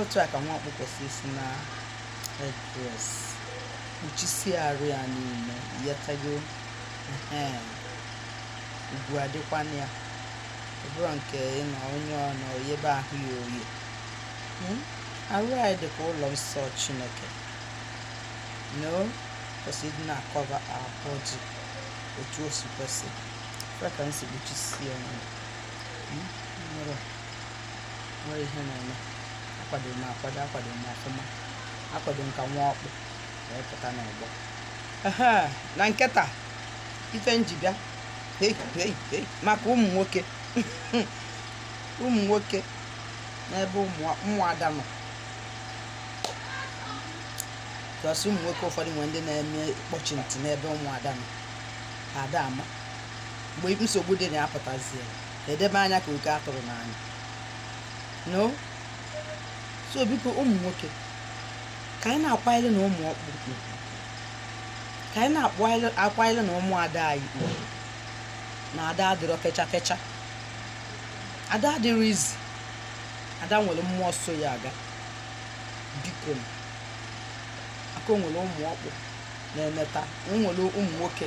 otu a ka nwa ọkpụ kwesịrị isi na-edress kpuchisie arụ ya niile ị ghọtago ugwu adịkwa na ya ọ bụrọ nke ịnọ onye ọnọ yebe ahụ ya oyi hmm? arụ anyị dịka ụlọ nsọ chineke no kwesịrị ịdị na-acover our body otu o si kwesị ka anyị si kpuchisie ya hmm? nwere ihe na-eme akwadoro m akwado akwadoro m ọfụma akwado m ka nwa ọkpụ wee pụta n'ọgbọ ehe na nke taa ife m ji bịa hei hei hei maka ụmụ nwoke ụmụ nwoke n'ebe ụmụ- ụmụada nọ plus ụmụ nwoke ụfọdụ nwere ndị na-eme ịkpọchi ntị n'ebe ụmụada nọ ha ada ama mgbe nsogbu dị na ya pụtazie edebe anya ka oke atụrụ n'anya no so biko ụmụ nwoke ka anyị na-akwanyere na ụmụ ọkpụ ka anyị na-akwanyere na ụmụada anyị na ada adịrọ fecha fecha ada adịrọ easy ada nwere mmụọ so ya aga biko aka o nwere ụmụ ọkpụ na-emeta nwere ụmụ nwoke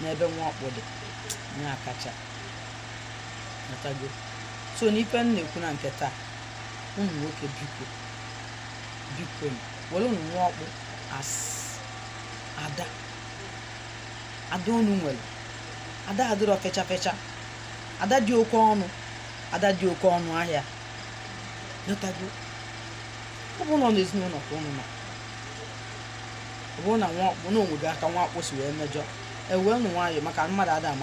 n'ebe nwa ọkpụ dị na-akacha natago so n'ife m na-ekwu na nke taa ụmụ nwoke biko biko were unu nwa ọkpụ as ada ada unu nwere ada adịrọ fecha fecha ada dị oke ọnụ ada dị oke ọnụ ahịa natago ọ bụ nọ n'ezinụlọ ka unu nọ ọ bụrụ na nwa ọkpụ na o nwega aka nwa ọkpụ si wee mejọ ewee nụ nwayọọ maka mmadụ ada ama